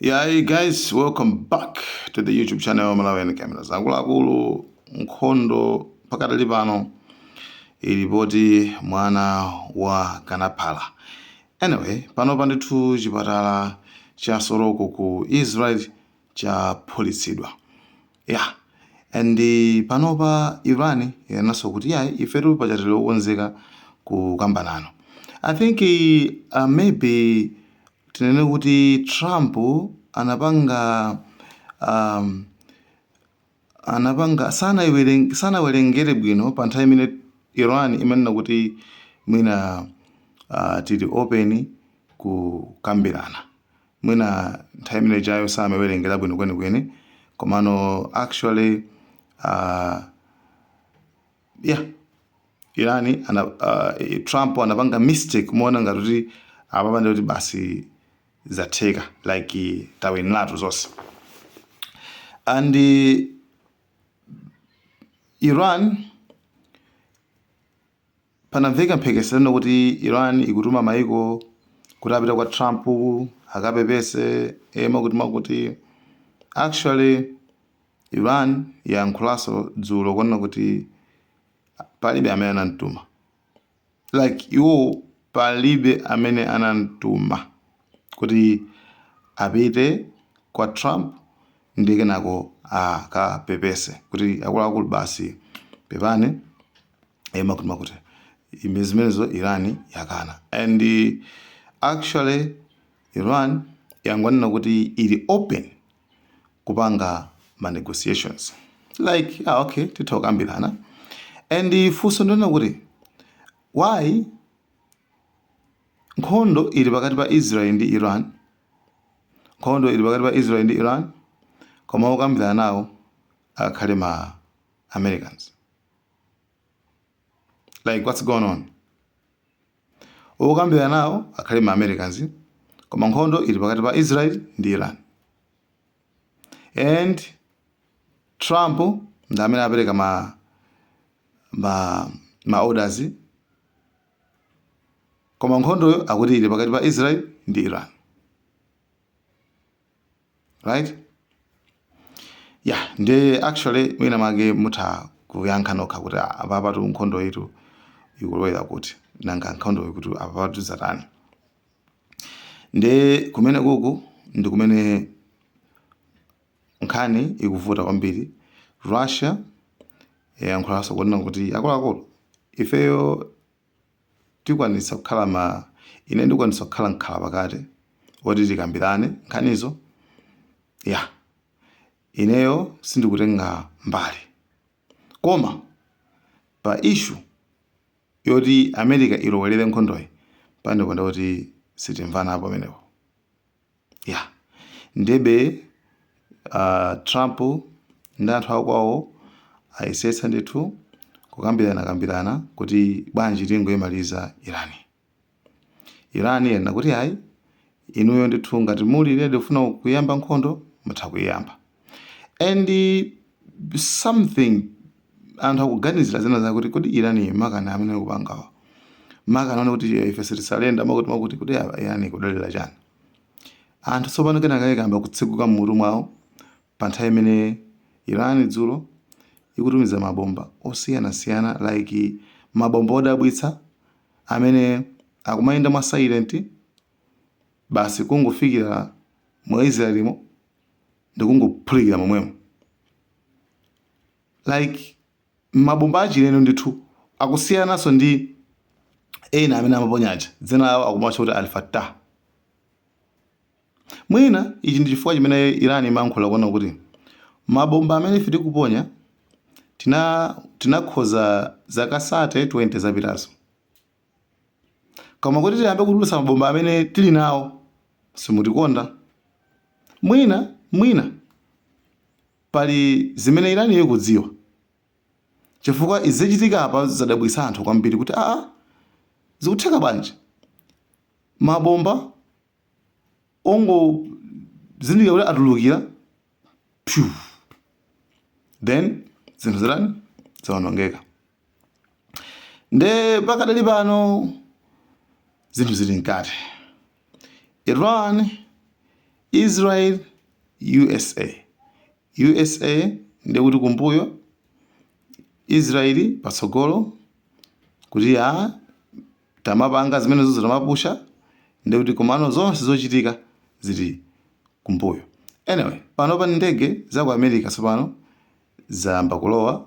Yeah, guys, welcome back to the YouTube channel Malawian Cameras. Akuluakulu nkhondo pakadali pano ili poti mwana wa kanaphala. Anyway, pano pandithu chipatala cha Soroka ku Israel chaphulitsidwa. Yeah and panopa Iran yanenanso kuti yayi ifetu paja tili okonzeka kukamba nanu. I think uh, maybe tinene kuti Trump anapanga um, anapanga sanaiwereng- sanawerengere bwino pa nthawi imene Iran imanena kuti mwina uh, tili open kukambirana mwina nthawi imene ijayo samawerengera bwino kwenikweni komano actually uh, yeah Iran ana, uh, trump anapanga mistake kumaona ngati kuti apapa nde kuti basi zatheka like tawiniratu zonse and uh, iran Panamveka mphekesera kuti Iran ikutuma maiko kuti apite kwa Trump akapepese ee mwakuti mwakuti. Actually Iran yayankhulanso dzulo kunena kuti palibe amene anamtuma. Like iwowo palibe amene anamtuma kuti apite kwa Trump ndiye kenako akapepese kuti akuluakulu basi pepani. eh, mwakuti mwakuti zimene zimenezo iran yakana and eh, actually iran yangonena kuti ili open kupanga ma negotiations like ah, okay titha kukambirana and eh, funso ndi lonena kuti why nkhondo ili pakati pa israel ndi iran nkhondo ili pakati pa israel ndi iran koma okambirana nawo akhale ma americans like what's going on okambirana nawo akhale ma americans koma nkhondo ili pakati pa israel ndi iran and trump ndi amene apereka ma ma ma orders koma nkhondoyo akuti ili pakati pa israel ndi iran right ya nde actually mwina make mutha kuyankha nokha kuti "Ah, apapatu nkhondoyitu ikulowera kuti nanga nkhondo iyi kuti apapatu zatani nde kumene kuku ndi kumene nkhani ikuvuta kwambiri russia yayankhulanso kunena kuti akuluakulu ifeyo ndikwanitsa kukhala ma, ine ndikwanitsa kukhala mkhalapakati woti tikambirane nkhanizo. Ya, ineyo sindikutenga mbali. Koma pa issue yoti America ilowelere nkhondoyi, pamenepo nde kuti sitimvanapo pamenepo. ya ndebe uh, trump ndi anthu akwawo ayesetsa ndithu kukambirana kambirana kuti bwanji tingoyimaliza Iran Iran yanena kuti ayi inuyo ndithu ngati muli ready kufuna kuyamba nkhondo mutha kuyiyamba and something anthu akuganizira zina zakuti kodi irani makani amene akupangawa makani onena kuti ife sitisurrender makuti makuti kuti ah, Iran ikudalira chani anthu tsopano kenaka akayamba kutseguka m'mutu mwawo pa nthawi imene irani dzulo ikutumiza mabomba osiyanasiyana like mabomba odabwitsa amene akumayenda mwa silent basi kungofikira mu israelimo ndikungophulikira momwemo like mabomba achilendo ndithu akusiyananso ndi ena amene amaponya aja dzina lawo akumatcha kuti alfatah mwina ichi ndi chifukwa chimene iran imayankhula kunena kuti mabomba amene ife tikuponya tina tinakonza zaka 30 20 zapitazo Koma kuti tiyambe kutulutsa mabomba amene tili nawo, simutikonda. Mwina, mwina pali zimene Iraniyo ikudziwa, chifukwa izi zachitika apa zadabwitsa anthu kwambiri kuti aa, zikutheka bwanji mabomba ongozindikira kuti atulukira pyu then zinthu zitani, zawonongeka. nde pakadali pano zinthu zili mkati iran israel usa usa ndiye kuti kumbuyo israeli patsogolo kuti aa tamapanga zimenezo tamapusha nde kuti komano zonse zochitika zili kumbuyo anyway panopa ndege za ku america tsopano zayamba kulowa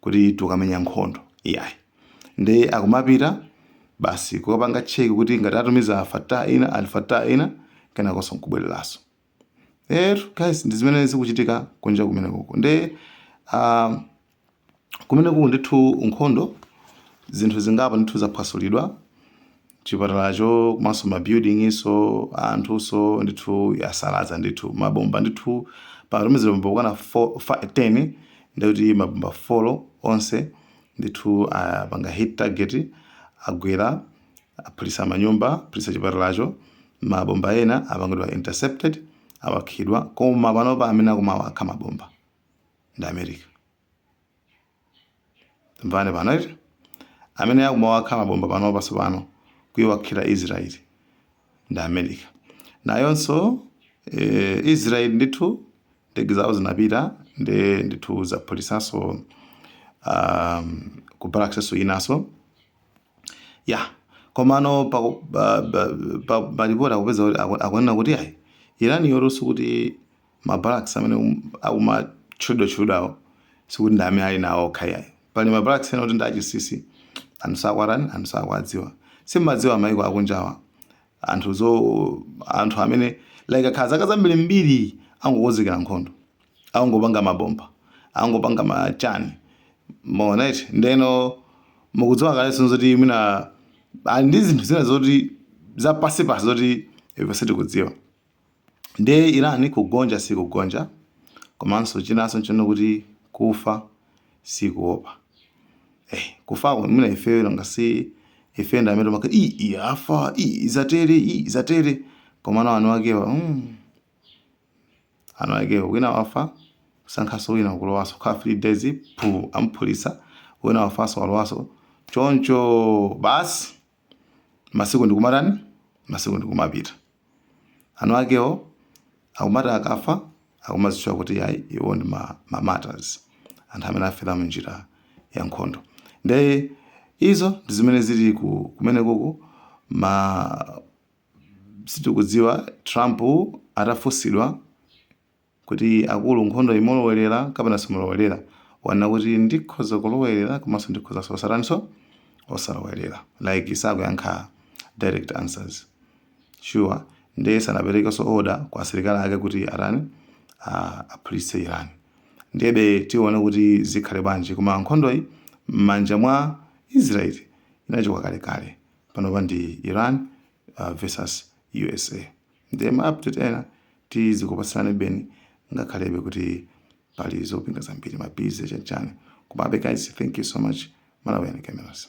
kuti akamenye nkhondo iyayi nde akumapita basi kukapanga cheki kuti ngati atumiza alfatah ina alfatah ina kenakonso nkubwereraso etu guys ndi zimene zikuchitika kunja kumene kuko nde uh, kumene kuku ndithu nkhondo zinthu zingapo ndithu zaphwasulidwa chipatalacho komanso ma building so a anthuso ndithu asalaza ndithu mabomba ndithu pakatumizira mabomba okwana 10 ndikuti mabomba 4 onse ndithu apanga ah, hit target agwera aphulisa manyumba aphulisa chipatalacho mabomba ena apangidwa intercepted awakhidwa koma panopa amene akumawakha mabomba ndi america tamvani pano eti amene akumawakha mabomba panopanso pano kuiwakhira israeli ndi america nayonso eh, israeli ndithu ndege zawo zinapita ndi ndithu zaphulisanso um, ku barracks nso inaso ya komano pa- pa- pa- pa- palipoti akupeza kuti aku- akunena kuti ayi irani yaulutsa kuti Ma barracks amene akumatchulidwatchulidwawo sikuti ndi amene ali nawo okha iyayi. Pali ma barracks ena oti ndi achinsinsi, anthu sakuwatani, anthu sakuwadziwa. Si mumadziwa mayiko akunjawa anthu zo anthu amene like akhala zaka zambirimbiri angokonzekera nkhondo, akungopanga mabomba, akungopanga ma chani mwaona eti. Ndeno mukudziwa kalenso zoti mwina ali ndi zinthu zina zoti zapansipansi zoti ife sitikudziwa. Ndiye Iran kugonja sikugonja komanso chinanso nchonena kuti kufa sikuopa. Eh, kufako mwina ifeyo ngati ife ndi amene maka i i afa i zatere i zatere komano eni akewa mm. eni akewa wina wafa asankhaso wina kulowaso ka 3 days phu amphulisa wina wafaso walowaso choncho basi masiku ndikumatani masiku ndikumapita eni akewo akumati akafa akumazitchula kuti ayi iwo ndi ma, ma martyrs anthu amene afera mnjira ya nkhondo nde izo ndi zimene zili ku- kumeneku koma sitikudziwa trump atafunsidwa Kuti akulu nkhondoyi mulowelera kapena simulowelera wanena kuti ndikhoza kulowelera komanso ndikhozanso osataninso osalowelera like sakuyankha direct answers sure ndiye sanaperekenso order kwa asilikali ake kuti atani aphulitse Iran ndiyebe tione kuti zikhale bwanji koma nkhondoyi m'manja mwa Israel inachoka kale kale panopa ndi Iran uh, versus USA Ndiye ma update ena tizikupatsirani beni ngakhalebe kuti pali zopinga zambiri ma busy chanchani. Komabe guys, thank you so much Malawian Cameras.